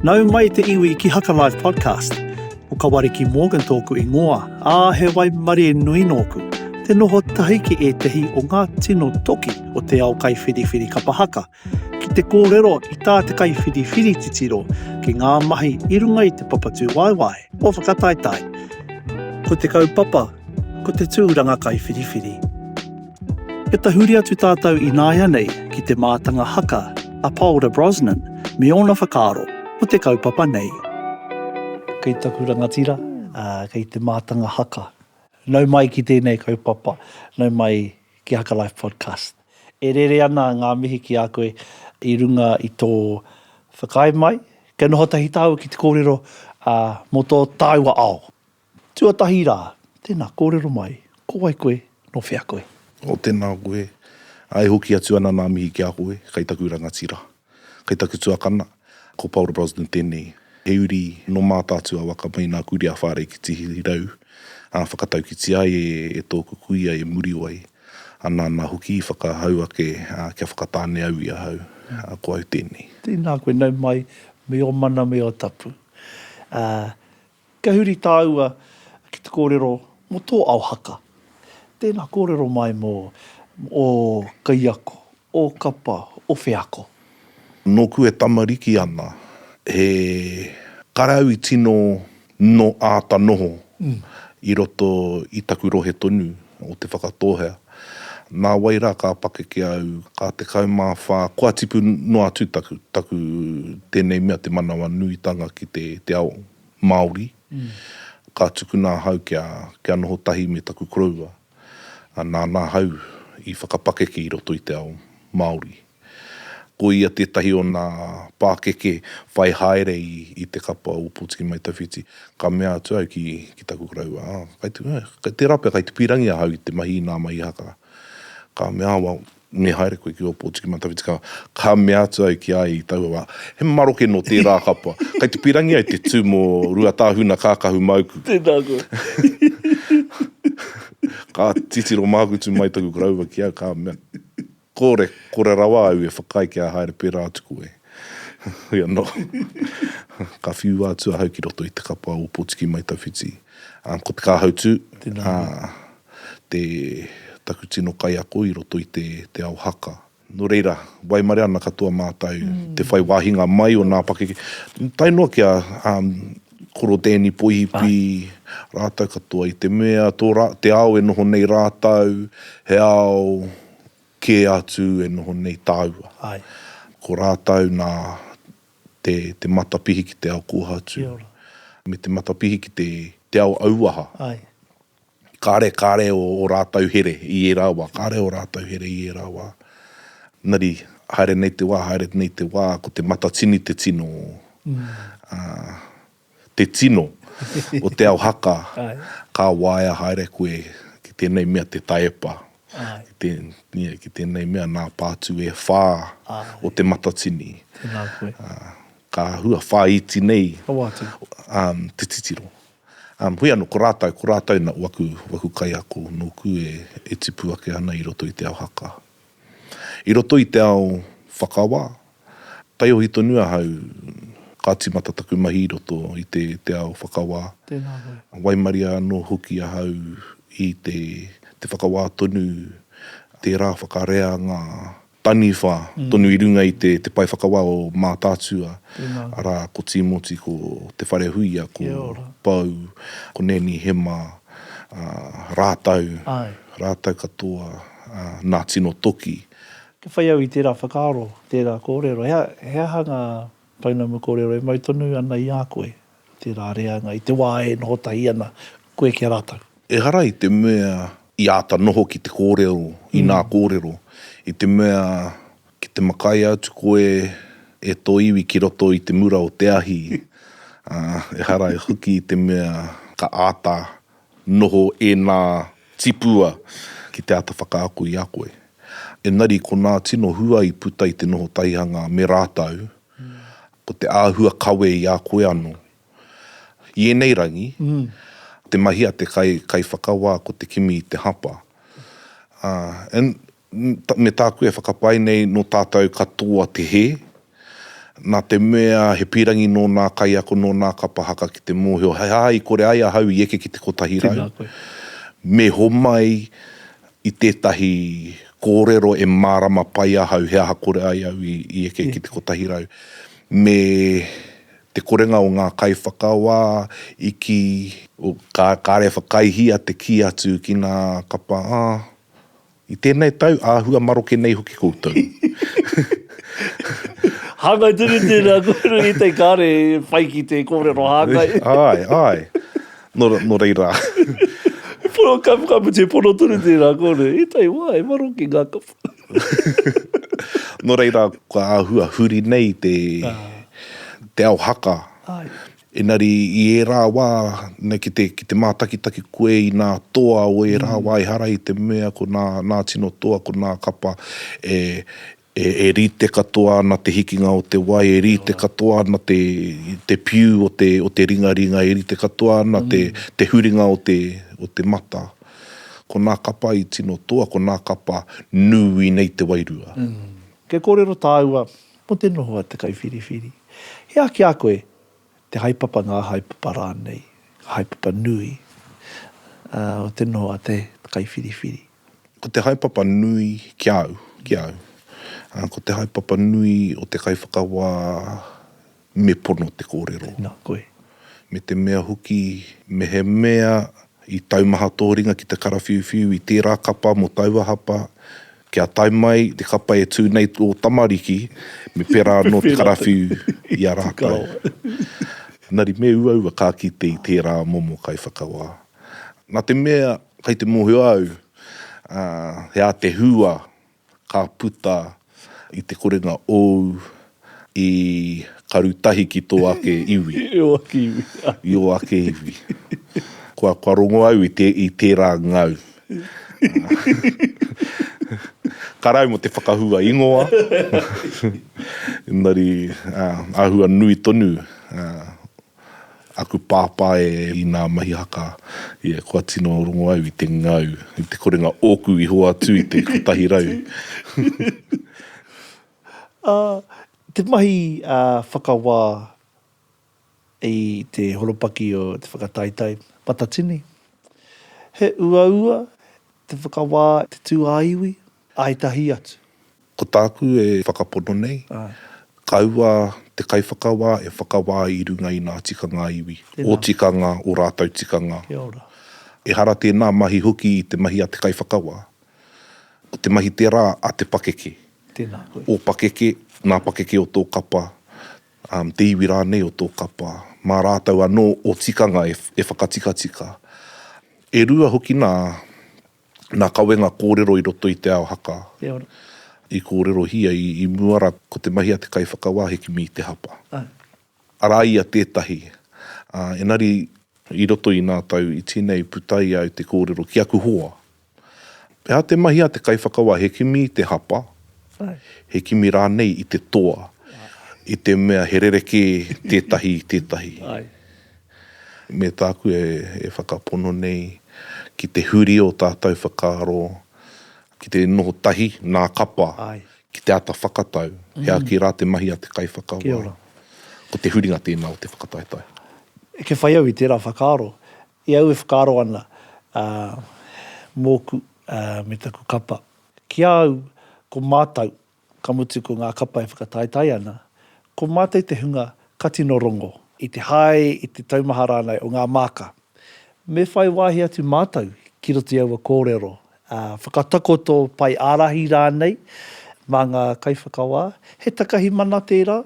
Nau mai te iwi ki Haka Live Podcast. Ko Kawariki Morgan tōku ingoa, ā, he waimarie nui nōku. Te noho tahi ki ētehi o ngā tino toki o te ao kaiwhiriwhiri kapa haka, ki te kōrero i tā te kaiwhiriwhiri titiro ki ngā mahi i runga i te papatū waewae o whakataetae. Ko te kaupapa, ko te tūranga kaiwhiriwhiri. He tahuri atu tātou ināianei ki te mātanga haka a Paora Brosnan me ōna whakaaro ko te kaupapa nei. Kei taku rangatira, kei te mātanga haka. Nau mai ki tēnei kaupapa, nau mai ki Haka Life Podcast. E rere ana ngā mihi ki a koe i runga i tō whakaae mai, kia noho tahi tāua ki te kōrero mō tō tāua ao. Tuatahi rā, tēnā kōrero mai, ko wai koe, nō whea koe? Oh, tēnā koe. Ā, e hoki atu ana nā mihi ki a koe, kei taku rangatira, kei taku tuakana, ko Paul Brosnan tēnei. He uri nō Mātaatua waka mai nā Kuri a Whārei ki Tihirau, ā, whakataukiti ai e tōku kuia e Muriwai, ā nāna hoki i whakahau ake kia whakatāne au i ahau, ā, ko au tēnei. Tēnā koe, nau mai, me ō mana me ō tapu. Ā, Kia huri tāua ki te kōrero mō tō ao haka. Tēnā kōrero mai mō ō kaiako, ō kapa, ō wheako. Nōku e tamariki ana, he karau i tino nō āta noho i roto i taku rohe tonu. o Te Whakatōhea. Nā wai rā ka pakeke au, ka 14 kua tipu noa atu taku, taku tēnei mea te manawa nuitanga ki te, te ao Māori. Ka tukuna ahau kia, kia noho tahi me taku koroua, nāna ahau i whakapakeke i roto i te ao Māori. Ko ia tētahi o nā pākeke whai haere i te kapa o Pōtiki Mai Tawhiti. Ka mea atu au ki taku koroua, Kei tērā pea kai te pīrangi ahau i te mahi i nā mahi haka. Ka mea, Well, me haere koe ki ō Pōtiki Mai Tawhiti. Ka mea atu au ki a ia i taua wā, He maroke nō tērā kapa. Kai te pīrangi ai te tū mō Ruatāhuna Kākahu Māuku. Tēnā koe. Ka titiro mākutu mai taku koroua ki au, ka mea, Kore, kore rawa au e whakaae kia haere pērā atu koe. Heoi anō, ka whiua atu ahau ki roto i te kapa o Potiki Mai Tawhiti. Ā, ko te kāhautū, ā, te, taku tino kaiako i roto i te, te ao haka. Nō reira, waimare ana katoa mātou i te whai wāhinga mai o nā pakeke, tae noa ki a, ā, Koro Danny Poihipi rātou katoa, i te mea tō rā, te ao e noho nei rātou, he ao Kē atu e noho nei tāua. Āe. Ko rātou nā te, te matapihi ki te ao kōhatu. Kia ora. Me te matapihi ki te, te ao auaha. Āe. Kāre, kāre ō, ō rātou here i ērā wā, kāre ō rātou here i ērā wā. Engari, haere nei te wā, haere nei te wā, ko te matatini te tino, ā, te tino o te ao haka, ka waea haere koe ki tēnei mea te taepa, ki tēnei mea nā pātū e whā o Te Matatini. Ka hua whāiti nei te titiro. Hoi anō, ko rātou, ko rātou na waku kaiako nōku e tupu ake ana i roto i te ao haka. I roto i te ao whakawa, Taiohi tonu ahau, ka timata taku mahi i roto i te te ao whakawā. Tēnā koe. Waimaria anō hoki ahau i te te whakawā tonu, tērā whakareanga taniwha tonu i runga i te te pae whakawā o Mātaatua, arā, ko Tīmoti, ko Te Wharehuia, ko Pou, ko Neni Hema, ā, rātou, rātou katoa, ā, nā tino toki, Ka whai au i tērā whakaaro, tērā kōrero, he aha, he aha ngā pounamu kōrero e mau tonu ana i a koe, tērā reanga i te wā e noho tahi ana koe ki a rātou? Ehara i te mea i āta noho ki te kōrero, inā kōrero, i te mea ki te makaia atu koe e tō iwi ki roto i te mura o te ahi, ā, ehara i hoki i te mea ka āta Noho ēnā tipua ki te āta whakaako i a koe. Engari ko nā tino hua i puta i te noho taihanga me rātou, ko te āhua kawe i a koe anō. I ēnei rangi, te mahi a te kai, kaiwhakawā ko te kimi i te hapa. Ā, and. me tāku e whakapae nei nō tātou katoa te hē, nā te mea he pīrangi nō nā kaiako, nō nā kapa haka ki te mōhio he aha i kore ai ahau i eke ki te kotahi rau, me homai i tētahi kōrero e mārama pai ahau he aha kore ai au i eke ki te kotahi rau. Me te korenga o ngā kaiwhakawā i kī, oh, kāre e whakaihia te kī atu ki nā kapa, ah, I tēnei tau, āhua maroke nei hoki koutou. Hāngai tonu tēnā kōrero i te kare whai ki te kōrero hāngai. Āe, āe. Nō, nō reira. Pono kapukaputi, pono tonu tēnā kōrero. I tēnei wā, he maroke ngā kapu. Nō reira, kua āhua huri nei te, te ao haka. Āe. Engari i ērā wā, nei ki te, ki te mātakitaki koe i nā toa o ērā wā ehara i te mea ko nā, nā tino toa, ko nā kapa e, e, e rite katoa ana te hikinga o te wai, e rite katoa ana te, te piu o te, o te ringaringa, e rite katoa ana te, te huringa o te, o te mata. Ko nā kapa i tino toa, ko nā kapa nū i nei te wairua. Kia kōrero tāua, mō te noho a te kaiwhiriwhiri. He aha ki a koe, te haepapa, ngā haepapa rānei, ngā haepapa nui o te noho a te kaiwhiriwhiri? Ko te haepapa nui ki a au, ki a au, ko te haepapa nui o te kaiwhakawā me pono te kōrero. Nā koe. me te mea hoki mehemea i taumaha tō ringa ki te karawhiuwhiu i tērā kapa mō taua hapa, kia tae mai te kapa e tū nei ō tamariki, me pērā anō te karawhiu i a rātou. Engari me uaua ka kite i tērā momo kaiwhakawā. Nā te mea kei te mōhio au, ā, he ātehūā. Ka puta i te korenga ōu i karu tahi ki tō ake iwi. I ō ake iwi. I ō ake iwi. Kua, kua rongo au i te, i tērā ngau. Karau mō te whakahua ingoa. Engari, āhua nui tonu. Aku pāpā e i nā mahi haka ia kua tino rongo au i te ngau, i te korenga ōku i hoatu i te kotahi rau. Ā, te mahi whakawā i te horopaki o te whakataetae matatini, he uaua te whakawā i te tūāiwi Ai tahi atu. Ko tāku e whakapono nei, kaua te kaiwhakawā e whakawā i runga i nā tikanga iwi, ō tikanga, ō rātou tikanga. Ehara tēnā mahi hoki i te mahi a te kaiwhakawā, ko te mahi tērā a te pakeke, ō pakeke, nā pakeke o tō kapa, te iwi rānei o tō kapa, mā rātou anō ō tikanga e whakatikatika. E rua hoki nā Nā Kawenga kōrero i roto i Te Ao Haka. Kia ora. I kōrerohia i mua rā ko te mahi a te kaiwhakawā he kimi i te hapa. Ae. Arā ia tētahi. Ā, engari i roto i nā tau iti nei putai au te kōrero ki aku hoa. Pēhā te mahi a te kaiwhakawā he kimi i te hapa, he kimi rānei i te toa, i te mea he rerekē tētahi i tētahi. Ae. Me tāku e whakapono nei ki te huri o tātou whakaaro ki te noho tahi nā kapa ki te ata whakatau, he āki rā te mahi a te kaiwhakawā. Ko te huringa tēnā o te whakataetae. Kia whai au i tērā whakaaro, i au e whakaaro ana mōku me taku kapa, ki a au ko mātou Ka mutu ko ngā kapa e whakataetae ana, ko mātou te hunga ka tino rongo. I te hae, i te taumaha rānei o ngā māka. Me whai wāhi atu mātou ki roto i aua kōrero, whakatakoto pae ārahi rānei mā ngā kaiwhakawā, he takahi mana tērā.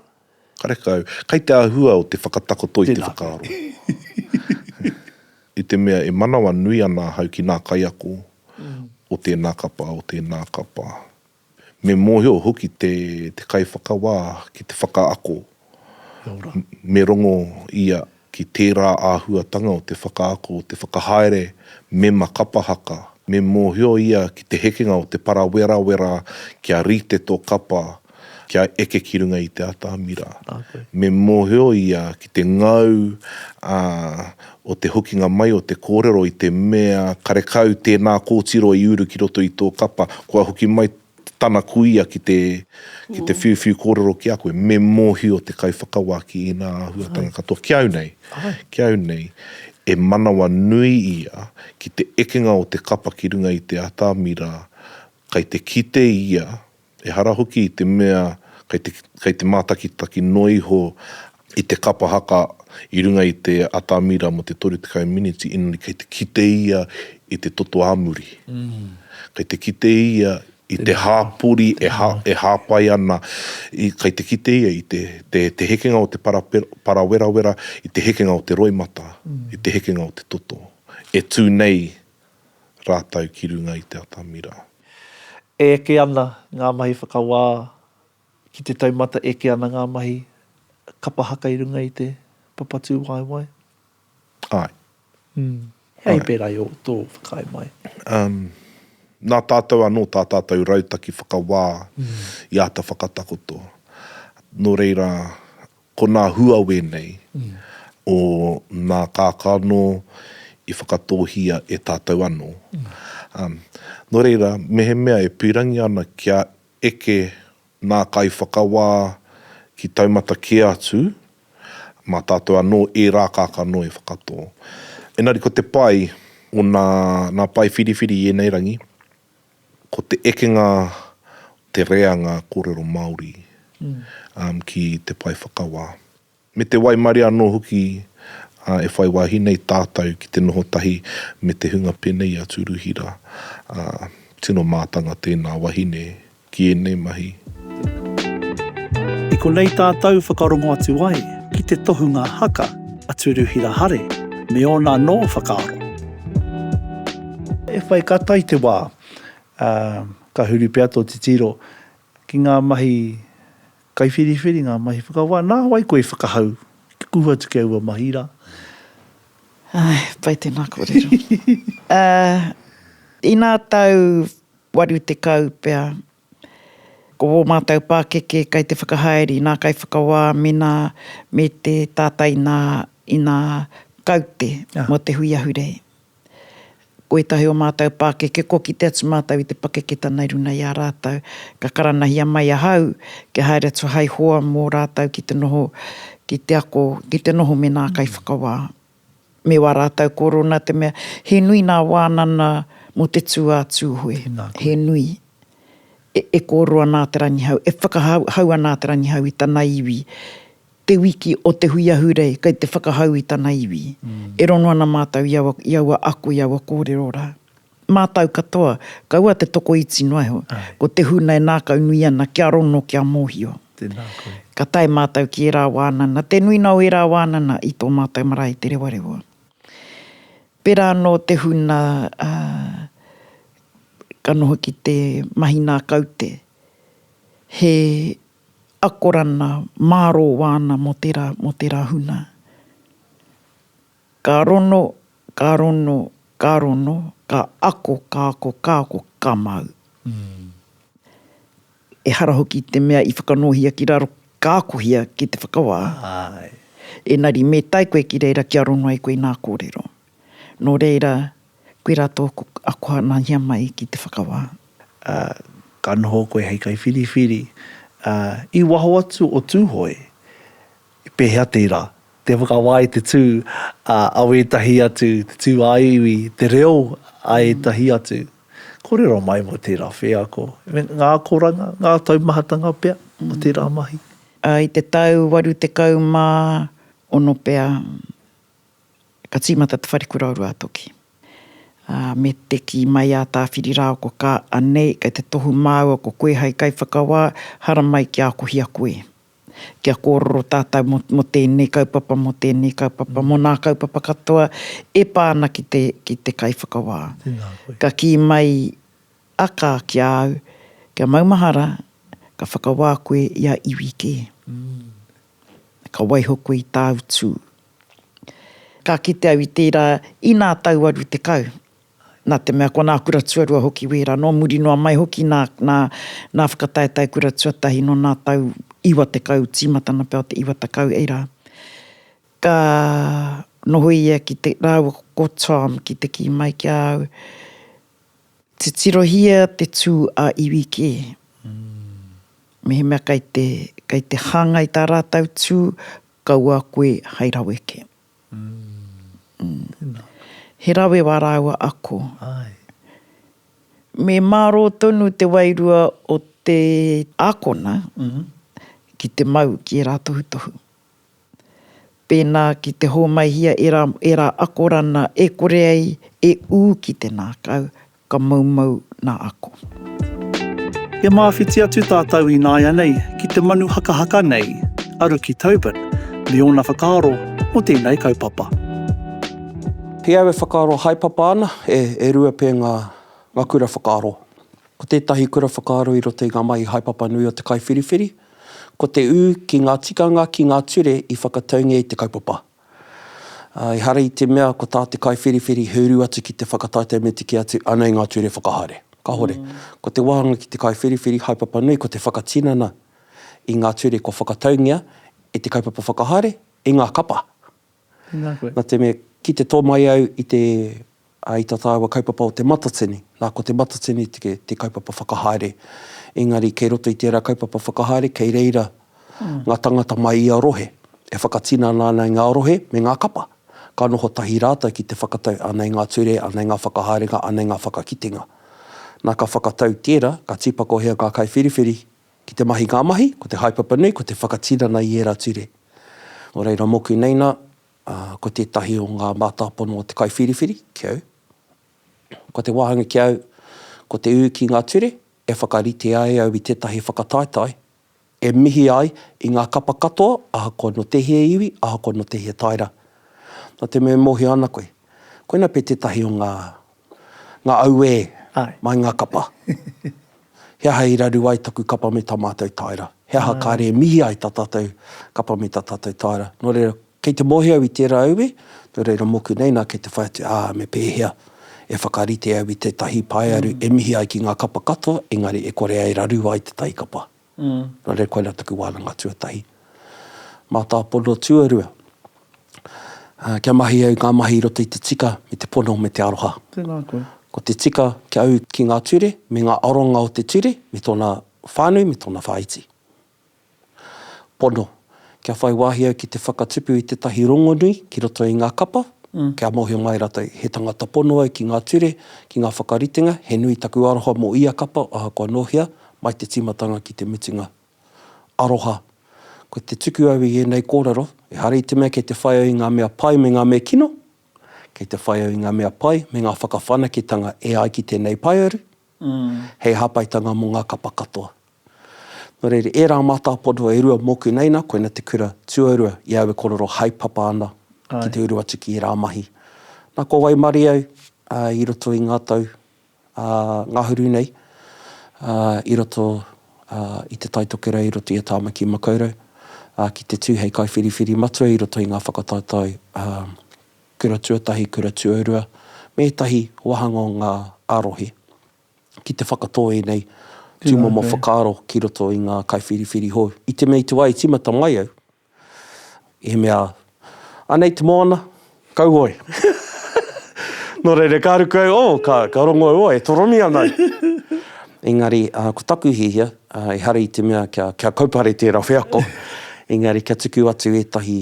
Karekau, kei te āhua o te whakatakoto i te whakaaro. I te mea e manawa nui ana ahau ki nā kaiako o tēnā kapa, o tēnā kapa. Me mōhio hoki te kaiwhakawā ki te whakaako. Me rongo ia ki tērā āhuatanga o te whakaako, o te whakahaere mema kapa haka. Me mōhio ia ki te hekenga o te parawerawera kia rite tō kapa, kia eke ki runga i te atamira. Me mōhio ia ki te ngau o te hokinga mai o te kōrero i te mea karekau tēnā kōtiro i uru ki roto i tō kapa, kua hoki mai tana kuia ki te ki te whiuwhiu kōrero ki a koe, me mōhio te kaiwhakawā ki ēnā āhuatanga katoa. Ki au nei, ki au nei, e manawa nui ia ki te ekenga o te kapa ki runga i te atamira, kai te kite ia Ehara hoki i te mea kei te, kei te mātakitaki noa iho i te kapa haka i runga i te atamira mō te 30 miniti, ina kei te kite ia i te toto ā muri. Kei te kite ia i te hāpori e, e hāpai ana, i, kei te kite ia i te, te, te hekenga o te para, parawerawera, i te hekenga o te roimata, i te hekenga o te toto e tū nei rātou ki runga i te atamira. E eke ana ngā mahi whakawā ki te taumata, e eke ana ngā mahi kapa haka i runga i te papatūwaewae? Āe. Mm. Hea i pērā i ō, tō whakaae mai? Um, nā tātou anō tā tātou rautaki whakawā i āta whakatakoto. Nō reira, Ko nā hua wēnei o nā kākano i whakatōhia e tātou anō. Nō reira, mehemea e pīrangi ana kia eke nā kaiwhakawā ki taumata kē atu, mā tātou anō ērā kākano e whakatō. Engari ko te pai o nā pae whiriwhiri i ēnei rangi, Ko te ekenga o te reanga kōrero Māori ki te pae whakawā, me te waimarie anō hoki e whai wāhi nei tātou ki te noho tahi me te hunga pēnei a Tūruhira, tino mātanga tēnā wahine ki ēnei mahi. I konei tātou whakarongo atu ai ki te tohunga haka a Turuhira Hare me ōna anō whakaaro. E whai kata i te wā, ā, ka huri pea tō titiro ki ngā mahi kaiwhiriwhiri, ngā mahi whakawā. Nā wai koe i whakahau kia kuhu atu ki aua mahi rā? Āe, pai tēnā kōrero. Ā, inā tau 80 pea. Ko ō mātou pākeke kei te whakahaere i nā kaiwhakawā mēnā me te tātai inā, inā kaute mō te hui ahurei. Ko ētahi o mātou pākeke kua kite atu mātou i te pakeketanga i runga i a rātou, ka karanahia mai ahau kia haere atu hai hoa mō rātou ki te noho, ki te ako, ki te noho me nā kaiwhakawā. me wā rātau korona te mea, he nui nā wānana mō te tū a Tūhoe. Tēnā koe. He nui. E, e kōrero ana a Te Rangihau, e whakahau, hau ana a Te Rangihau i tana iwi, te wiki o te hui ahurei, kei te whakahau i tana iwi. E rongo ana mātau i aua, i aua ako, i aua kōrero rā. Mātau katoa, kaua te tokoiti noa iho. Ko te huna e nākau nui ana kia rono, kia mōhio. Tēnā koe. Ka tae mātau ki ērā wānana, te nuina o ērā wānana i tō mātau marae Te Rewarewa. Pērā anō te huna ka noho ki te mahi nā kaute, he akorana mārō wāna mō tērā, mō tērā huna. Ka rono, ka rono, ka rono, ka ako, ka ako, ka ako, ka mau. Ehara hoki i te mea i whakanōhia ki raro, ka akohia ki te whakawā. Engari me tae koe ki reira kia rono ai koe i ngā kōrero. Nō reira, koirā tōku ako hanahia mai ki te whakawā. Ka noho koe hei kaiwhiriwhiri i waho atu o Tūhoe, I pēhea tērā? Te whakawā i te tū a wētahi atu, te tū ā-iwi, te reo a ētahi atu. Kōrero mai mō tērā wheako, me ngā akoranga, ngā taumahatanga pea o tērā mahi. I te tau 86 pea ka tīmata te whare kura o Ruatoki. Me te kī mai a Tāwhirirāoko, Ka anei, kei te tohu māua ko koe hai kaiwhakawā, haramai kia akohia koe. Kia kōrero tātou mō, mō tēnei kaupapa, mō tēnei kaupapa, mō nā kaupapa katoa e pā ana ki te, ki te Kaiwhakawā. Tēnā koe. Ka kī mai a Ka ki a au, Kia maumahara, ka whakawā koe i a iwi kē. Ka waiho koe i tāu tū. Ka kite au i tērā, inā tau 80. Nā te mea ko nā kura tuarua hoki wērā, nō muri noa mai hoki nā, nā, nā Whakataetae Kura Tuatahi nō nā tau iwa tekau, tīmatana pea o te iwa tekau, ei rā. Ka noho ia ki te, rāua ko Tom ki te kī mai ki a au, Titirohia te tū a iwi kē. Mehemea kei te, kei te hāngai tā rātou tū, kaua koe hai rawe kē. He rawe wā rāua ako. Me mārō tonu te wairua o te ākona ki te mau ki ērā tohutohu. Pēnā ki te hōmaihia ērā akoranga e kore ai e ū ki te ngākau, Ka moumou nā ako. He māwhiti atu tātou ināianei ki te manu hakahaka nei a Ruki Tobin me ōna whakaaro mō tēnei kaupapa. He au e whakaaro haepapa ana, e rua pea ngā kura whakaaro. Ko tētahi kura whakaaro i roto i ngā mahi haepapa nui o te kaiwhiriwhiri, ko te ū ki ngā tikanga, ki ngā ture i whakataungia i te kaupapa. Ehara i te mea ko tā te kaiwhiriwhiri he uru atu ki te whakataetae me te kī atu, anei ngā ture whakahaere. Kāhore. Ko te wāhanga ki te kaiwhiriwhiri, haepapa nui ko te whakatinana i ngā ture kua whakataungia e te kaupapa whakahaere, i ngā kapa. Nā te mea, ki te tō mai au i te Ā, i tā tāua kaupapa o Te Matatini, nā, ko Te Matatini te, te kaupapa whakahaere. Engari, kei roto i tērā kaupapa whakahaere, kei reira ngā tāngata mai ia rohe, e whakatinana ana i ngā rohe me ngā kapa, ka noho tahi rātou ki te whakatau, anei ngā ture, anei ngā whakahaerenga, anei ngā whakakitenga. Nā, ka whakatau i tērā, ka tīpakohia ngā kaiwhiriwhiri ki te mahi ngā mahi, ko te haepapa nui, ko te whakatinana i ērā ture. Nō reira, mōku nei nā, Ā, ko tētahi o ngā mātāpono o te kaiwhiriwhiri ki au, ko te wāhanga ki au, ko te ū ki ngā ture e whakarite ai au i tētahi whakataetae e mihi ai i ngā kapa katoa ahakoa nō tēhea iwi, ahakoa nō tēhea taera. Nā te mea e mōhio ana koe, koina pea tētahi o ngā Nga auē, mai nga kapa. He aha i raru ai taku kapa me ta matou taera? He aha kare e mihi ai ta tatou kapa me ta tatou taera? No reira, kei te mohi au i tera auē, no reira moku nei na kei te whai atu, a, me pehea e whakarite au i tetahi paearu e mihi ai ki nga kapa katoa engari e kore ai raru ai tetahi kapa? Nō reira koinā taku wānanga tuatahi. Mātāpono tuarua, kia mahi au ngā mahi i roto i te tika me te pono me te aroha. Tēnā koe. Ko te tika kia au ki ngā ture me ngā aronga o te ture me tōna whānui me tōna whāiti. Pono. kia whai wāhi au ki te whakatupu i tētahi rongonui ki roto i ngā kapa, kia mōhio mai rātou, he tangata pono au ki ngā ture, ki ngā whakaritenga, he nui taku aroha mō ia kapa ahakoa nō hea, mai te tīmatanga ki te mutunga. Aroha. Ko te tuku au i ēnei kōrero, ehara i te mea kei te whai au i ngā mea pai me ngā mea kino, kei te whai au i ngā mea pai me ngā whakawhanaketanga e ai ki tēnei paearu, hei hāpaitanga mō ngā kapa katoa. Nō reira, ērā mātāpono e rua mōku nei nā, koina te kura tuarua i au e korero haepapa ana ki te uru atu ki ērā mahi. Nā, kua waimarie au i roto i ngā tau ngahuru nei i roto i Te Tai Tokerau, i roto i a Tāmaki Makaurau, ki te tū hei kaiwhiriwhiri matua i roto i ngā whakataetae Kura Tuatahi, Kura Tuarua, me ētahi wāhanga o ngā ā-rohe, ki te whakatō ēnei tūmomo whakaaro ki roto i ngā kaiwhiriwhiri hou. I te mea i te wā i tīmata mai au, i mea, Anei te moana, kauhoe! Nō reira, ka ruku au, oh, ka, ka rongo au, oh, e toromi ana au! Engari, ko taku hiahia, ehara i te mea kia, kia kaupare tērā wheako, engari kia tuku atu ētahi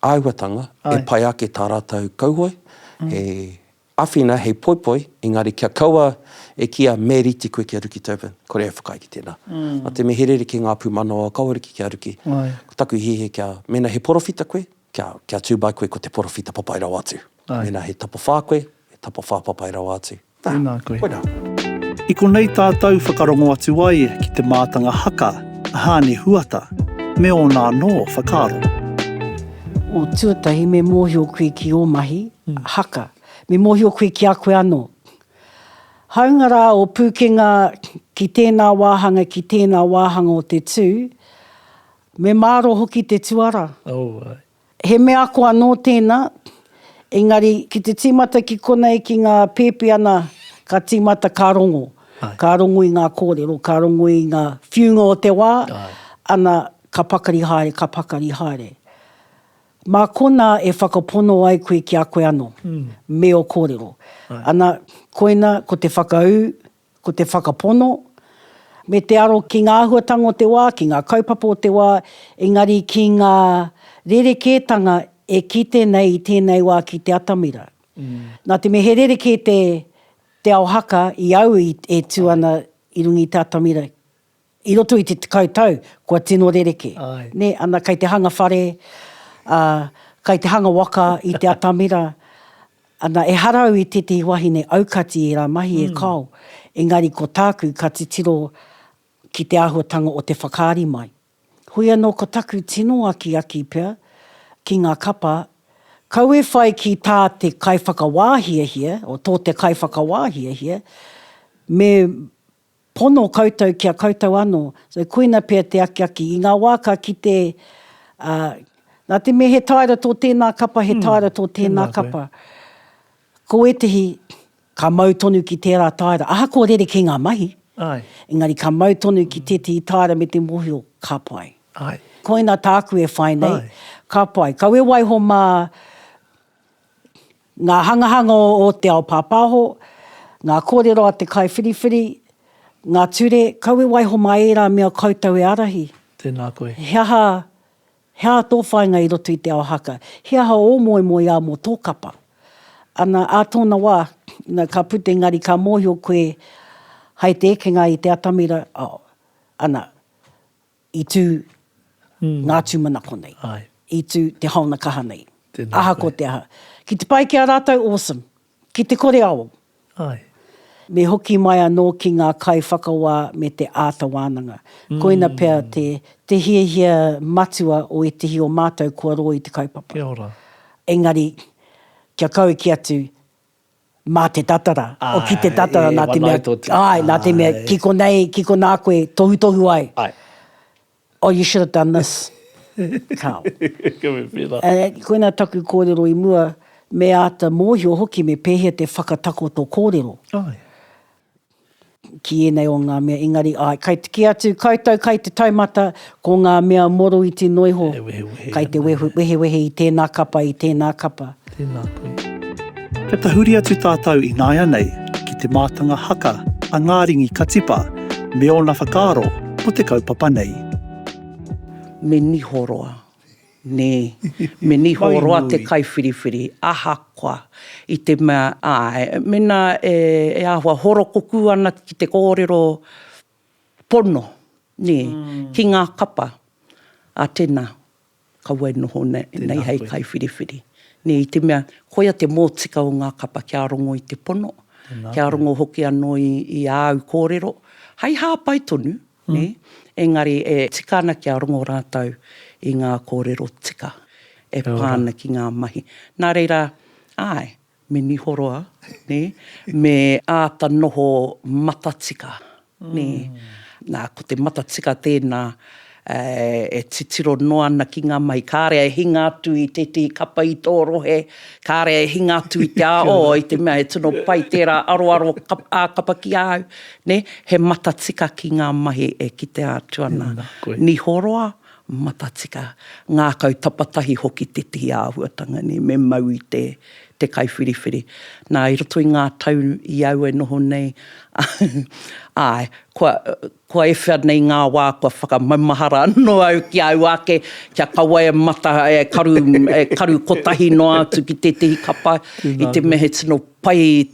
āhuatanga e pai ake tā rātou kauhoe, he āwhina, he poipoi, engari kia kaua e kīa me rīti koe ki a Riki Tobin, kore e whakaae ki tēnā. Nā te mea he rere ki ngā pūmanawa kaua riki ki a Riki, ko taku hiahia kia, mēnā he porowhita koe, kia, kia tū mai koe ko te porowhita papai rawa atu. Mēnā he tapawhā koe, he tapawhā papai rawa atu. Tēnā koe. Koirā. I konei tātou whakarongo atu ai ki te mātanga haka a Hāne Huata me ōna anō whakaaro. O tuatahi me mōhio koe ki ō mahi haka, me mōhio koe ki a koe anō. Hāunga rā o pūkenga ki tēnā wāhanga, ki tēnā wāhanga o te tū, me māro hoki te tuarā. Oh, ai. He mea ako anō tēnā, engari ki te tīmata ki konei ki ngā pēpi ana ka tīmata ka rongo. Ka rongo i ngā kōrero, ka rongo i ngā whiunga o te wā, ana ka pakari haere, ka pakari haere. Mā konā e whakapono ai koe ki a koe anō, me ō kōrero. Ana, koina ko te whakaū, Ko te whakapono, me te aro ki ngā āhuatanga o te wā, ki ngā kaupapa o te wā, engari ki ngā rerekētanga e kite nei i tēnei wā ki te atamira. Nā te mea he rerekē te ao haka i au e tū ana i runga i te atamira I roto i te tekau tau, kua tino rereke. Nē, ana, kei te hanga whare, ā, kei te hanga waka i te atamira, ana, ehara au i tētehi wahine aukati i ērā mahi e kao, engari ko tāku ka titiro ki te āhuatanga o te whakaari mai. Hoi anō ko taku tino akiaki pea ki ngā kapa, kau e whai ki tā te kaiwhakawā hiahia, o tō te kaiwhakawā hiahia, me Pono koutou ki a koutou anō. So koina pea te akiaki. I ngā wā ka kite, ā, nā te mea he taera tō tēnā kapa, he taera tō tēnā kapa, ko ētehi ka mau tonu ki tērā taera, ahakoa rerekē ngā mahi, engari ka mau tonu ki tētehi taera me te mōhio, ka pai. Koina tāku e whai nei, ka pai. Kaua e waiho mā, Ngā hangahanga o te ao pāpāho, ngā kōrero a te kaiwhiriwhiri, ngā ture, kau e waiho mā ērā mea koutou e ārahi. Tēnā koe. He aha, he aha tō whāinga i roto i te ao haka? He aha ō moemoeā mō tō kapa? Ana, ā tōna wā, ina ka puta engari ka mōhio koe hai te ekenga i te atamira, oh, ana, I tū ngā tūmanako nei. I tū te haona kaha nei. Ahakoa te aha. Ki te pai ki a rātou, awesome. Ki te kore ao. Me hoki mai anō ki ngā kaiwhakawā me te āta wānanga. Koina pea te hiahia matua o ētehi o mātou kua rō i te kaupapa. Engari, kia kau ki atu, Mā te tatara. Āe. Ki te tatara, nā te mea. E wanae tō tū. Āe, nā te mea, ki konei, ki konā koe tohutohu ai. Āe. Oh, you should have done this. Kāo. Ka mea pērā. Koinā taku kōrero i mua, me āta mōhio hoki me pēhea te whakatakoto kōrero. Āe. ki ēnei o ngā mea, engari, āe, kai, kī atu koutou kai te taumata, ko ngā mea moroiti noa iho, kai te wehewehe i tēnā kapa, i tēnā kapa. Tēnā koe. Kia tahuri atu tātou ināianei ki te mātanga haka a Ngāringi ka tipa me ōna whakaaro mō te kaupapa nei. Me niho roa. Nē. Me niho roa te kaiwhiriwhiri, ahakoa, i te mea, āe, mēnā e āhua horokukū ana ki te kōrero pono, nē, ki ngā kapa, ā, tēnā, kaua e noho nei hei kaiwhiriwhiri. Nē, i te mea, koia te mōtika o ngā kapa kia rongo i te pono, kia rongo hoki anō i āu kōrero, hei hāpai tonu. nē, engari e tika ana kia rongo rātou i ngā kōrero tika e pā ana ki ngā mahi. Nā reira, āe, me niho roa, nē, me āta noho matatika, nē. Nā, ko te matatika tēnā e titiro noa ana ki ngā mahi. Kāre e hinga atu i tētahi kapa i tō rohe, kāre e hinga atu i te āo, i te mea he tino pai tērā aroaro ā-kapa ki a au. Ne, he matatika ki nga mahi e kitea atu ana. Niho roa, matatika, ngakau tapatahi hoki tetihi ahuatanga nei me mau i te te kaiwhiriwhiri. Na, i roto i nga tau i au e noho nei, ae, kua, kua ewhea nei nga wa kua whakamaumahara ano au ki au ake, kia kaua e mata, e karu, e karu kotahi noa atu ki tetihi kapa, i te mea he tino pai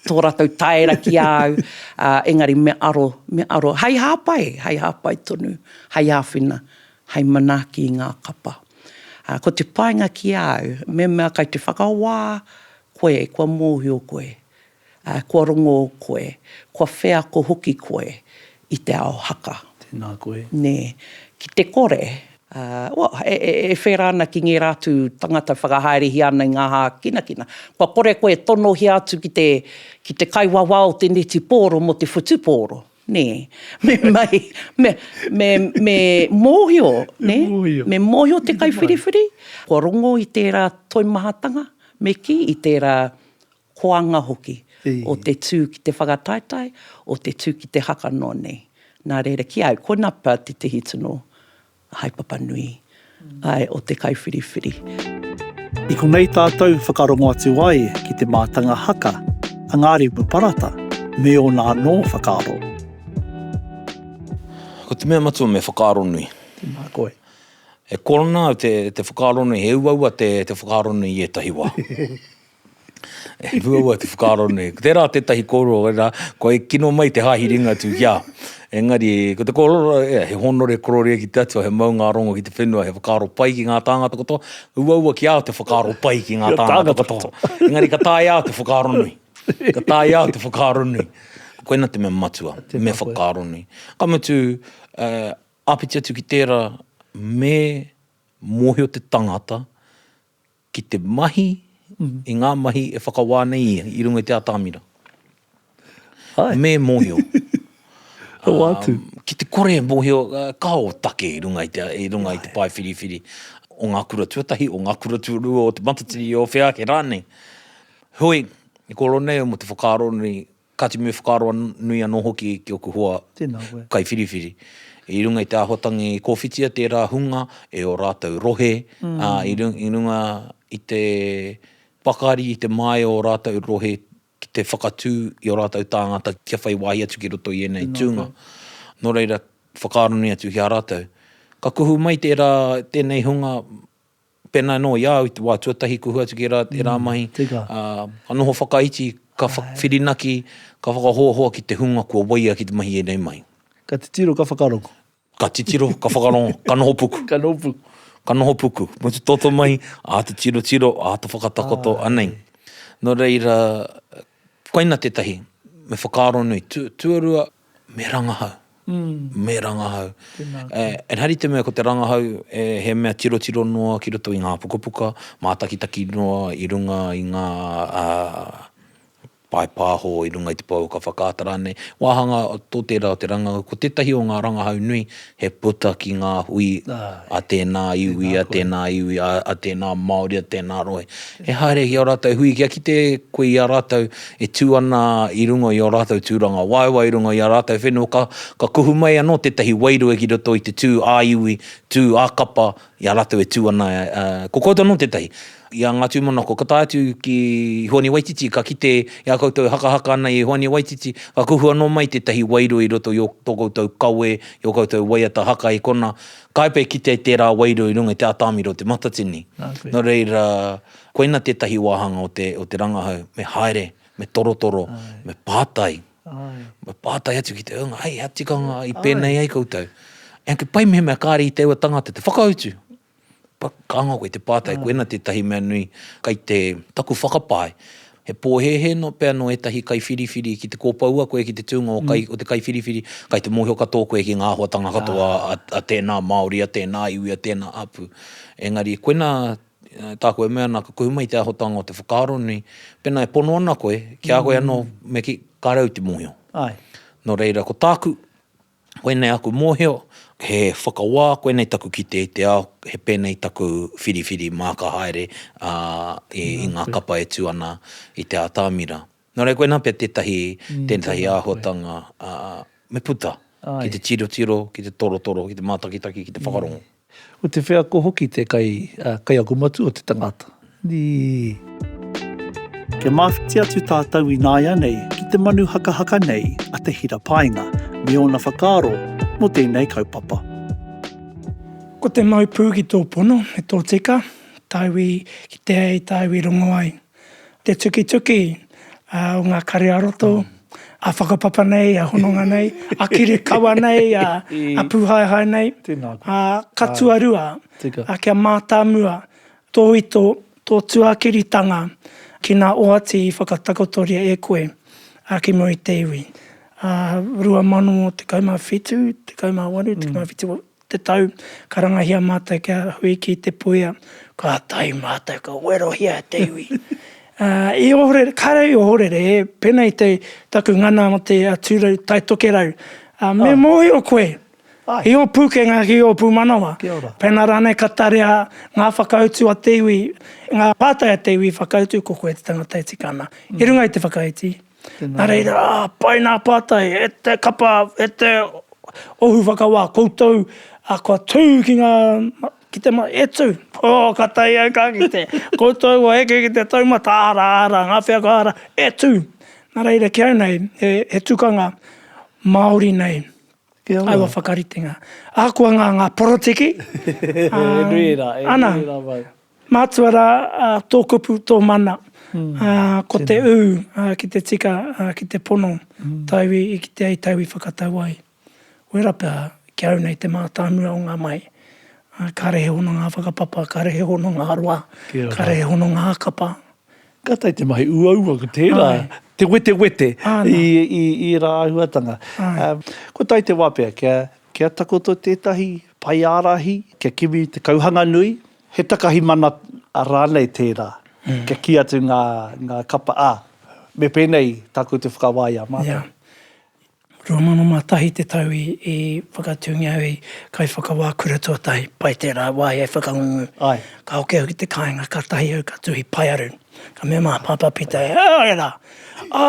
tō ratou taera ki a au, ā, engari me aro, me aro, hei hāpai, hei hāpai tonu, hei āwhina, hei manaaki i ngā kapa. Ā, ko te painga ki a au, mehemea kai te whakawā koe kua mōhio koe, ā, kua rongō koe, kua wheako hoki koe i te ao haka. Tēnā koe. Nē, ki te kore, ā, ua, e whērā ana ki ngērā atu tangata e whakahaerehia ana i ngā hākinakina. Kua kore koe e tonohia atu ki te, ki te kaiwawā o te neti pōro mō te whutupōro, nē, me mahi, me, me, me mōhio, nē, me mōhio te kaiwhiriwhiri, kua rongo i tērā toimahatanga, me kī, i tērā koanga hoki, o te tū ki te whakataetae, o te tū ki te haka noa nei. Nā reira, ki a au, ko Napa tētehi tino haepapa nui, āe, o te kaiwhiriwhiri. I konei tātou whakarongo atu ai ki te mātanga haka a Ngārimu Parata me ōna anō whakaaro. Ko te mea matua me whakaaro nui. Tēnā koe. E kōrana au te whakaaro nui, he uaua te whakaaro nui i ētahi wā. E rua wai te whakaaro nei. Ko tērā tētahi kōrero, wera, kua e kino mai te Hāhi Ringatū ki a. Engari, ko te kōrero, ea, he hōnore kororia ki te Atua, he maungārongo ki te whenua, he whakaaro pai ki ngā tāngata katoa, uaua ki a au te whakaaro pai ki ngā tāngata katoa. Engari ka taea au te whakaaro nui. Ka taea au te whakaaro nui. Koina te mea matua, me whakaaro nui. Ka mutu, āpiti atu ki tērā, me mōhio te tangata, ki te mahi i ngā mahi e whakawā nei ia i runga i te atamira. Hai. Me mōhio. Hoatu. Um, ki te kore e mōhio uh, ka o take i runga i te, i runga Hai. i te pae whiriwhiri o ngā kura tuatahi, o ngā kura tuarua, o te matatini, o whea ake rānei. Hoi, i koro nei mo te whakaaro nei, Kāti me whakaaro nui anō hoki ki oku hoa kaiwhiriwhiri. I runga i te āhuatangi kōwhitia tērā hunga e ō rātou rohe, ā, i runga i te pakari, i te māia o ō rātou rohe ki te whakatū i ō rātou tāngata kia whai wāhi atu ki roto i ēnei tūnga. Nō reira, whakaaro nui atu ki a rātou. Ka kuhu mai tērā, tēnei hunga Pēnā anō i a au i te wā tuatahi kua hua atu ki ērā, ērā mahi, ā, ka noho whakaiti, ka whirinaki, ka whakahoahoa ki te hunga kua waia ki te mahi i ēnei mahi. Ka titiro, ka whakarongo. Ka titiro, ka whakarongo, ka noho puku. Ka noho puku. Ka noho puku. Mō te toto mahi, āta tirotiro, āta whakatakoto, anei. Nō reira, Koina tētahi, me whakaaro nui, tuarua, me rangahau, me rangahau. Engari te mea ko te rangahau he mea tirotiro noa ki roto i ngā pukapuka, mātakitaki noa i runga i ngā pae pāho i runga i te pou ka whakaata rānei, wāhanga tō tērā o te rangahau, ko tētahi o ngā rangahau nui, he puta ki ngā hui a tēnā iwi, a tēnā iwi, a tēnā Māori, a tēnā rohe. He haere ki ō rātou hui, kia kite koe i a rātou e tū ana i runga i ō rātou tūrangawaewae, i runga i ā rātou whenua, ka kuhu mai anō tētahi wairua ki roto i te tū ā-iwi, tū ā-kapa, I a rātou e tū ana, ko koutou anō tētahi. I a ngā tūmanako, ka tae atu ki Hoani Waititi, ka kite i a koutou e hakahaka ana i Hoani Waititi, ka kuhu anō mai tētahi wairua i roto i ō tō koutou kawe, i ō koutou waiata haka i konā, ka haepea e kitea i tērā wairua i runga i te atamira o Te Matatini. Nō reira, koina tētahi wāhanga o te rangahau, me haere, me torotoro, me pātai. Me pātai atu ki te ūnga, hei, hea tikanga i pēnei ai koutou? Engari kia pai mehemea kāre i te aua tangata te whakautu. Ka anga koe i te pātai, koina tētahi mea nui kei te taku whakapae. He pōhēhē pea nō ētahi kaiwhiriwhiri ki te kōpoua koe ki te tūnga o te kaiwhiriwhiri, kei te mōhio katoa koe ki ngā āhuatanga katoa a tēnā Māori, a tēnā iwi, a tēnā hapū. Engari koina Tāku e mea ana ka kuhu mai te ahotanga o te whakaaro nei, pēnā e pono ana koe, ki a koe anō, me kī, kāre au te mōhio. Nō reira, ko tāku, koinei aku mōhio, he whakawā, koinei taku kite i te ao, he pēnei taku whiriwhiri māka haere i ngā kapa e tū ana i te atamira. Nō reira, koinā pea tētahi, tētahi āhuatanga me puta ki te tirotiro, ki te torotoro, ki te mātakitaki, ki te whakarongo. Ko te wheako hoki te kai, kaiako matua o te tangata. Ii. Kia mawhiti atu tātou ināianei ki te manu hakahaka nei a Te Hira Paenga me ōna whakaaro mō tēnei kaupapa. Ko te mau pū ki tō pono me tō tika, tāu i kitea ai, tāu i rongo ai. Te tukituki o ngā kare a roto, a whakapapa nei, a hononga nei, a kiri kawa nei, a pūhaehae nei, ka tuarua, kia mātāmua tō ito, tō tuakiritanga ki nā oati i whakatakotoria e koe ki mua i te iwi. 2017, 18, 19, te tau, ka rangahia mātou kia hui ki Te Puea, ka tae mātou ka werohia e te iwi. I ohorere, kāre au i ohorere, pēnā i te, taku ngana mō te Tūrou Tai Tokerau, me mōhio koe, ki ō pūkenga, ki ō pūmanawa, pēnā rānei ka tarea ngā whakautu a te iwi, ngā pātai a te iwi i whakautu, ko koe te tangata e tika ana, i runga i te whakaiti. Nā reira, pai nā pātai, e te kapa, e te ohu whakawā, koutou kua tū ki ngā, ki te, e tū, oh, ka tae au ka kite, koutou kua heke ki te taumata, ara, ara, ngā wheako ara, e tū. Nā reira, ki au nei, he tukanga Māori nei, aua whakaritenga. Ahakoa ngā porotiki, ana, Mātua rā tō kupu, tō mana, ko te ū ki te tika, ki te pono, tauwi i kite ai, tauwi whakatau ai. Wera pea ki au nei te mātāmua o ngā mahi, kāre he hononga whakapapa, kāre he hononga roa, kāre he hononga hakapa. Ka tae te mahi uaua ko tērā, te wetewete i ērā āhuatanga. Ko tae te wā pea kia takoto tētahi Pai ārahi kia kimi te kauhanga nui, he takahi mana rānei tērā, kia kī atu ngā, ngā kapa, ā, me pēnei tā koutou whakawā i a mātou. Ia. 2001 te tau i, i whakatūngia au i Kaiwhakawā Kura Tuatahi, pai tērā wā i whakangungu. Ai. Ka hoki au ki te kāinga, kātahi au ka tuhi paearu. Ka mea mā Pāpā Pita, E āe rā, ā,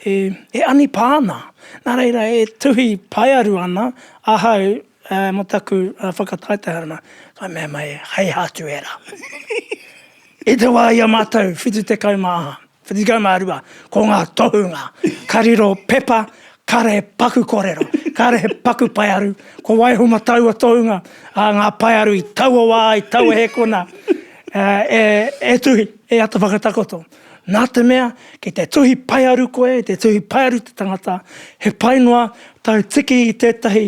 e anipā ana. Nā reira, e tuhi paearu ana ahau mō taku whakataetaeranga. Ka mea mai, Hei ha atu ērā. I te wā i a mātou 72, ko ngā tohunga ka riro pepa, Kāre he paku kōrero, kāre he paku paearu, ko waiho matau a Tohunga, ā, ngā paearu i taua wā, i taua hēkona, e tuhi, e ata whakatakoto. Nā te mea, ki te tuhi paearu koe, te tuhi paearu te tangata, he pai noa tau tiki i tētahi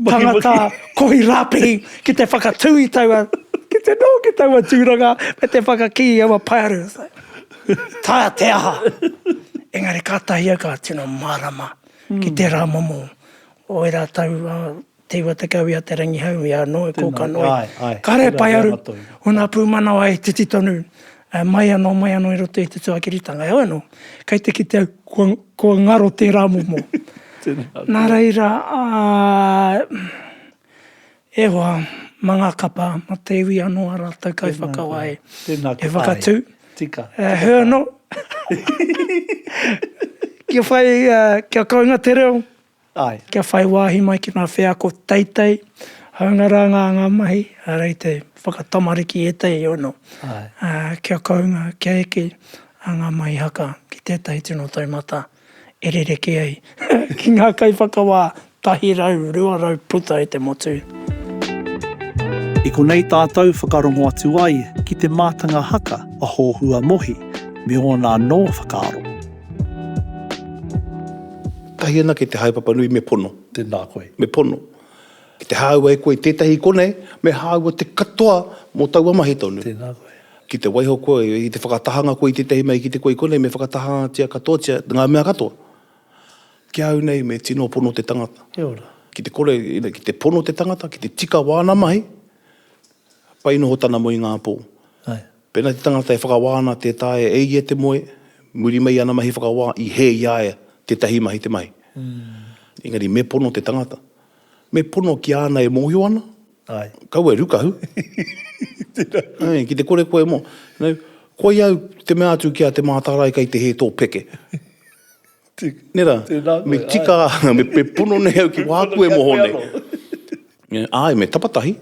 tangata kohi rāpihi ki te whakatū i taua, ki te noho ki taua tūranga me te whakakī i aua paearu. Taea te aha! Engari kātahi au ka tino mārama ki tērā momo o e rātou Te Iwatakau i a Te Rangihau i a Noe Kōkanoe. Ka rere pai aru ōna pūmanawa e titi tonu mai anō, mai anō i roto i te tuakiritanga. Heoi anō, kei te kite au kua, kua ngaro tērā momo. Nā reira, E hoa, ma nga kapa, ma te iwi ano a ratou kaiwhakawae e whakatu, e hur no, kia whai, kia kounga te reo, kia whai wahi mai ki nga wheako teitei, haunga ra nga anga mahi, rei te whakatamariki etehi ono, kia kounga, kia eke a nga mahi haka ki tetahi tino taumata. e rerekē ai ki ngā kaiwhakawā tahi rau, rua rau puta e te motu. I konei tātou whakarongo atu ai ki te mātanga haka a Hōhua Mohi me ōna anō whakaaro. Tahi ana ki te haepapa nui me pono. Tēnā koe. Me pono. Ki te hāua e koe tētahi i konei, me hāua te katoa mō taua mahi tonu. Tēnā koe. Ki te waiho koe, ki te whakatahanga koe i tētahi mea, i kite koe i konei, me whakatahangatia katoatia ngā mea katoa. Ki ahau nei, me tino pono te tangata. Kia ora. Ki te kore, ki te pono te tangata, ki te tika wāna mahi, pai noho tana moe i ngā pō. Ae. Pēnā te tangata e whakawā ana tē taea e ia te moe, muri mai i ana mahi whakawā, i hē i a ia tētahi mahi te mahi. Engari me pono te tangata. Me pono ki āna e mōhio ana. Ai. Kaua e rukahu. Tērā koe. Ai, ki te kore koe e mō. Nau, koi au te mea atu ki a Te Mātārae kei te hē tō peke. Tē. Nera. Tērā koe. Me tika, me pono nei au ki wāku e moho nei. Ai, me tapatahi.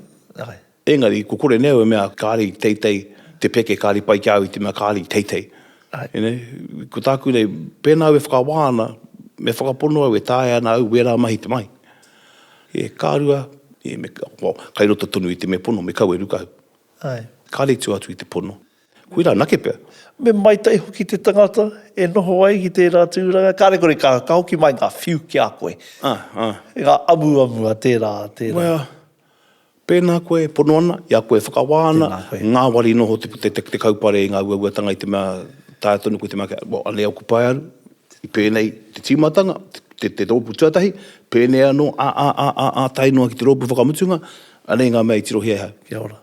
Ai. Engari, ko kore neu e mea kāre i teitei te peke, kāre i pai ki a au i te mea kāre i teitei. You know, ko tāku nei, pēnā au e whakawā ana, me whakapono au e taea ana au wērā mahi te mahi. E ka rua, e me ka, well, kai roto tonu i te me pono, me kau e ruka au. Ae. Kāre i tū atu i te pono. Koira anake pea. Me maitai hoki te tangata e noho ai ki tērā tūranga, kāre kore ka, ka hoki mai ngā whiu ki a koe. Ae, ae. Ngā amuamu a tērā, a tērā. Well. Pēnā koe e pono ana, i a koe e whakawā ana, ngāwari noho te te kaupare i ngā uauatanga i te mea taea tonu koe te mea kia, well, anei ōku paearu, i pēnei te tīmatanga, te te rōpū tuatahi, pēnei anō a, a, a, a, a, tae noa ki te rōpū whakamutunga, anei ngā mea i tirohia e hau. Kia ora.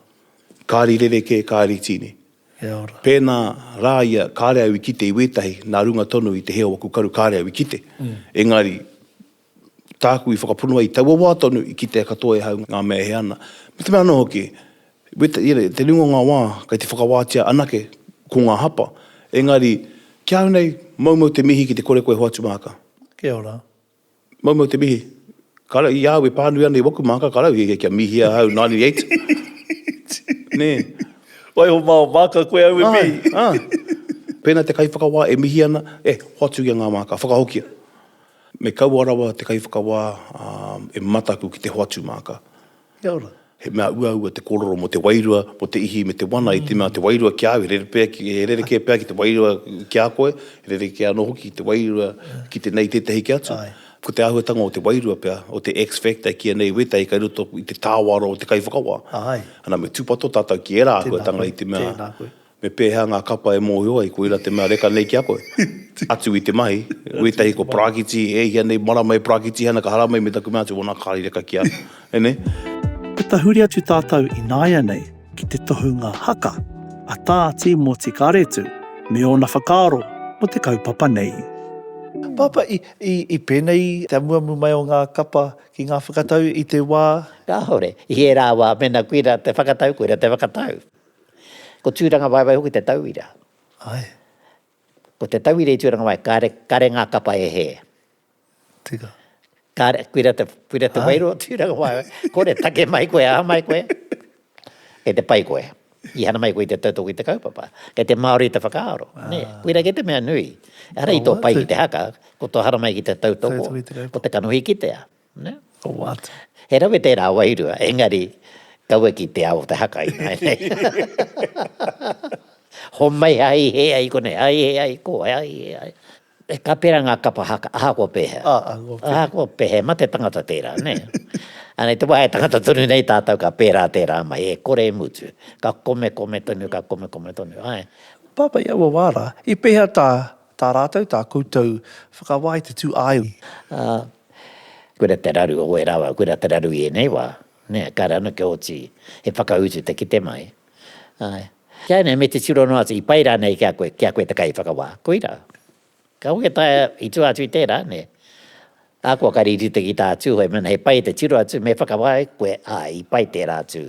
Kāri rerekē, kāri tīni. Kia ora. Pēnā rā ia, kāre au i kite i wētahi nā runga tonu i te hē o aku karu, kāre au i kite. Engari. Tāku i whakapono ai taua wā tonu i kitea katoa e hau ngā mea e hē ana. Me te mea anō hoki, i te ringa o ngā wā, kei te whakawātia anake ko ngā hapa. Engari, ki a au nei, moumou te mihi ki te kore koe hoatu māka. Kia ora. Moumou te mihi. Kāre, i a au e pānui ana i waku māka, ka rau, hiahia kia mihia ahau, 98. Nē. Waiho mā o māka koe au e mihi. Āe, āe. Pēnā te kaiwhakawā e mihi ana, eh, hoatu ia ngā māka, whakahokia. Me kaua rawa te kaiwhakawā e mataku ki te hoatu māka. Kia ora. He mea uaua te kōrero mō te wairua, mō te ihi me te wana i te mea te wairua ki a au he rerekē pea ki te wairua ki a koe, he rerekē anō hoki ki te wairua ki tenei tētahi ki atu. Ko te āhuatanga o te wairua pea, o te X factor ki ēnei wētahi kei roto i te tāwaro o te kaiwhakawā. Ana me tūpato tātou ki ērā āhuatanga i te mea. Tēnā koe. Me pēhea ngā kapa e mōhio ai koira te mea reka nei ki a koe? Atu i te mahi, wētahi ko Parakiti, e hia nei marama e Parakitihana ka haramai me taku mea atu wona kāri reka ki a e nei. Ka tahuri atu tātou ināianei ki te tohunga haka a Tā Tīmoti Karetu me ōna whakaaro mō te kaupapa nei. Pāpā, i pēnei te amuamu mai o ngā kapa ki ngā whakatau i te wā? Kāore. I ērā wā, mēnā koira te whakatau, koira te whakatau. Ko Tūrangawaewae hoki te tauira. Ae. Ko te tauira i Tūrangawae, kare, kare ngā kapa e hē. Tika. Kare, kuira te, kuira te wairua o Tūrangawaewae. Kore, take mai koe, aha mai koe. Kei te pai koe. I hana mai koe i te tautoko i te kaupapa. Kei te Māori te whakaaro. Ah. Nē, kuira kei te mea nui. Ehara i tō pai ki te haka, ko tō hara mai ki te tautoko, ko te kanohi kitea. Nē? Ko wātea. He rawe tērā wairua, engari, kaua ki te ao o te haka ināianei. Homai hai hē ai konei, hai hē ai ko, hai hē ai. Ka pērā ngā kapa haka, ahakoa pēhea. Ahakoa pēhea. Ahakoa pēhea, mā te tangata tērā, nē? Anei, te wā e tangata tonu nei tātou ka pērā tērā mahi, e kore e mutu. Ka komekome tonu, ka komekome tonu, āe. Pāpā i aua wā rā, i pēhea tā Tā rātou tā koutou whakawāi te tūāeui. Ā, koira te raru o wērā wā, koira te raru i ēnei wā, nē, kāre anō kia oti he whakautu te kite mai. Āe. Ki a ēnei, me te tiro noa atu, i pai rānei ki a koe, ki a koe te kaiwhakawā? Koira. Ka hoki a taea, i tua atu i tērā, nē. Ahakoa ka rīrite ki tā Tūhoe, mēnā he pai te tiro atu, me whakawāi koe, āe, i pai tērā atu.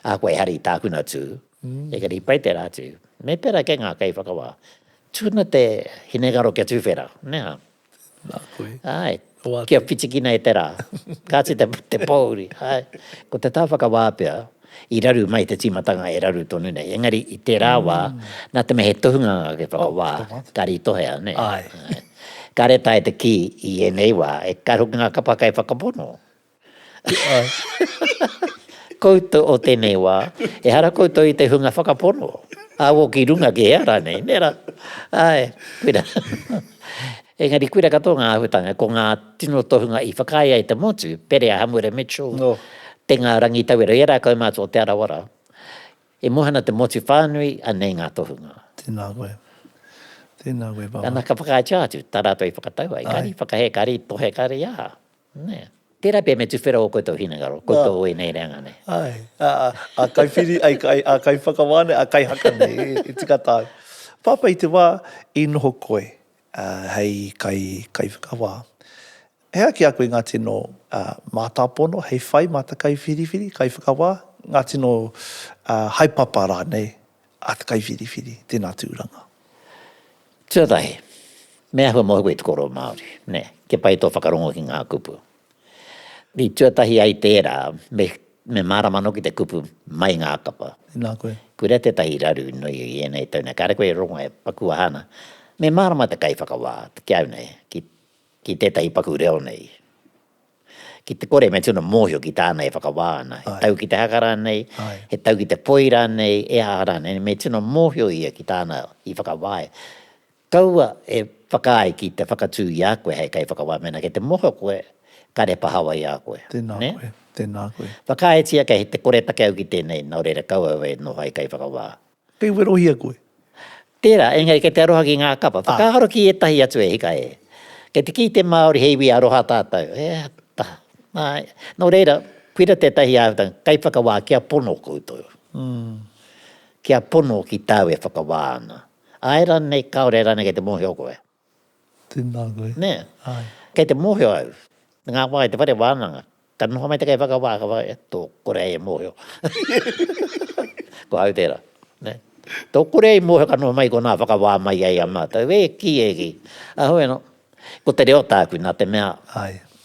A koe hari tākuna tū, engari i pai tērā atu. Me pera kē ngā kaiwhakawā, tuna te hinengaro kia tūwhera, nē hā? Nā koe. Āe, kia whitikina e te rā. Kāti te pōuri, āe. Ko te tā whakawā pea, i raru mai te tīmatanga e raru tonu nei, engari i tērā wā, nā te mea he tohunga ngā kaiwhakawā, ka rītohea, nē? Āe. Kāre tae te kī i ēnei wā, e kar hoki ngā kapa kaiwhakapono, Koutou o tenei wa, ehara koutou i te hunga whakapono, awo ki runga ki hea ranei, nera? Ae, kuira. Engari kuira katoa nga ahutanga, ko nga tino tohunga i whakaae ai te motu, Perea Hamura Mitchell, te nga Rangitawero, era kau matou o Te Arawara, i mohana te motu whanui, anei nga tohunga. Tena koe. Tena koe papa. Ana ka whakaaetia atu, ta ratou i whakatau ai, kari whakahē, kari tohe, kari aha. Nē. Tērā pea me tuwhera ō koutou hinengaro, koutou o ēnei reanga nei. Āe, ā kaiwhiri, ā kaiwhakawā nei, ā kaihaka nei, e tika tāu. Pāpā i te wā i noho koe hei kaiwhakawā, he aha ki a koe ngā tino mātāpono hei whai mā te kaiwhiriwhiri, kaiwhakawā, ngā tino haepapa rānei a Te Kaiwhiriwhiri, tēnā tūranga. Tuatahi, me ahua mō koe te kōrero Māori, nē, kia pai tō whakarongo ki ngā kupu. I tuatahi ai tērā, me, me mārama anō ki te kupu, mai ngā kapa. Tēnā koe. Kura tētahi raru nui i ēnei tau nei, kāre koe e rongo e paku aha ana, me mārama te kaiwhakawā, te kiau nei, ki, ki tētahi paku reo nei. Ki te kore me tino mōhio ki tāna e whakawā ana, he tau ki te haka rānei, he tau ki te poi rānei, e aha rānei, me tino mōhio ia ki tāna i whakawā ai. Kaua e whakaae ki te whakatū i a koe hei kaiwhakawā mēnā kei te mōhio koe, kāre pahawa i a koe. Tēnā koe, tēnā koe. Whakaaetia kei te kore take au ki tēnei, nō reira kaua e noho hei kaiwhakawā. Kei werohia koe. Tērā, engari kei te aroha ki ngā kapa. Whakaaro ki ētahi atu e hika e. Kei te kī te Māori he iwi aroha tātou. E ta, āe. Nō reira, koira tētahi āhuatanga, kei whakawā kia pono koutou. Kia pono ki tāu e whakawā ana. Āe rānei, kāore rānei kei te mōhio koe. Tēnā koe. Nē. Āe. Kei te mōhio au, te ngāwhā i te whare wānanga, ka noho mai te kai whakawā, ka whai, tō kore ai e mōhio. Ko au tērā. Nē. Tō kore ai i mōhio ka noho mai i konā whakawā mai ai a mātou, e kī, e kī. Ahau anō, ko te reo tāku nā te mea,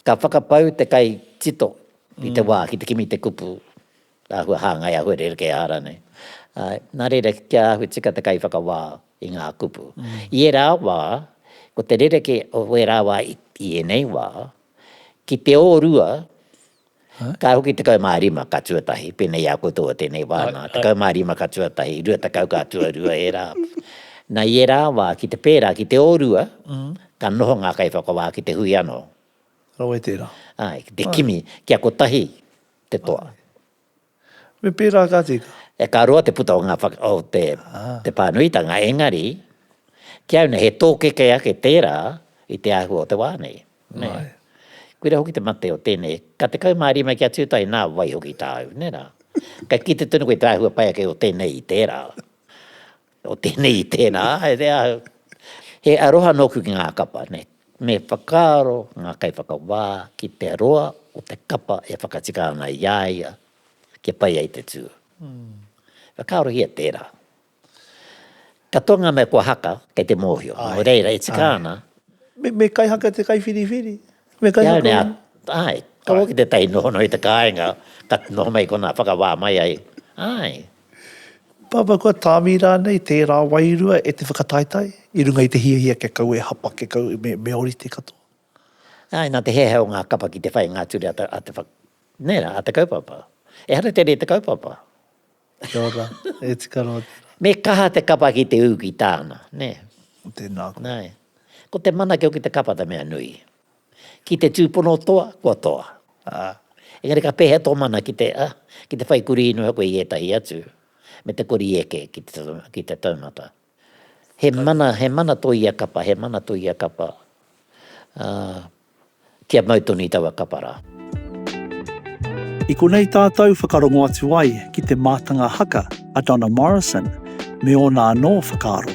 ka whakapau te kai tito i te wā ki te kimi i te kupu. Āhua hāngai, āhua rerekē hara nei. Āe, nā reira kia āhua tika te kaiwhakawā i ngā kupu. I ērā wā, ko te rerekē o ērā wā i ēnei wā, ki te ōrua, ka hoki tekau mā rima ka tuatahi, pēnei i a koutou o tēnei wā nā, tekau mā rima ka tuatahi, rua tekau ka tuarua ērā. Nā i ērā wā, ki te pērā, ki te ōrua, ka noho ngā kaiwhakawā ki te hui anō. Rawe tērā. Āe, ki te kimi, kia kotahi. te toa. Me pērā ka tika. E ka roa te puta o ngā whaka, o te, te pānuitanga, engari, ki au nei he tōkeke ake tērā i te āhua o te wā nei. Nē. Āe. Koira hoki te mate o tēnei, ka 15 kia tūtahi nā wai hoki tāu, nē rā. Ka kite tonu koe te āhua pai ake o tēnei i tērā. O tēnei i tēnā, e te ahu. He aroha nōku ki ngā kapa nei. Me whakaaro ngā kaiwhakawā ki te roa o te kapa e whakatika ana i a ia kia pai ai te tū. Whakaarohia tērā. Katoa ngā mea kua haka, kei te mōhio. Nō reira, e tika ana. Me, me kaihaka te kaiwhiriwhiri. Me kaihaka. Heoi nā, āe, ka hoki tētahi nohono i te kāinga, ka noho mai konā, whakawā mai ai. Āe. Papa, kua tāmi rānei tērā wairua e te whakataetae i runga i te hiahia kia kau e hapa, kia kau me ōrite katoa? Āe, nā te heahea o ngā kapa ki te whainga atu rā a te whak... nē rā, a te kaupapa. Ehara te rē te kaupapa. Kia ora, e tika noa tērā. Me kaha te kapa ki te ū ki tāna, nē. Tēnā koe. Nāe. Ko te manake o ki te kapa te mea nui. Ki te tūpono toa, kua toa. Ā, engari ka pēhea tō mana ki te, ā, ki te whai kurī noa koe i ētahi atu, me te kori eke ki te, ki te taumata. He mana, he mana tō ia kapa, he mana tō ia kapa, ā, kia mau tonu i taua kapa rā. I konei tātou whakarongo atu ai ki te mātanga haka a Donna Morrison me ōna anō whakaaro.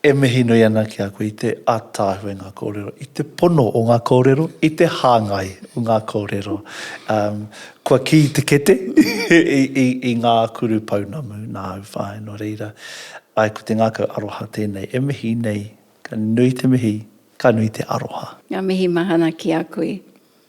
E mihi nui ana ki a koe i te ataahua i nga korero, i te pono o nga korero, i te hangai o nga korero. Kua ki te kete i nga kuru pounamu na au whae no reira, ae ko te ngakau aroha tenei e mihi nei, ka nui te mihi, ka nui te aroha. Nga mihi mahana ki a koe.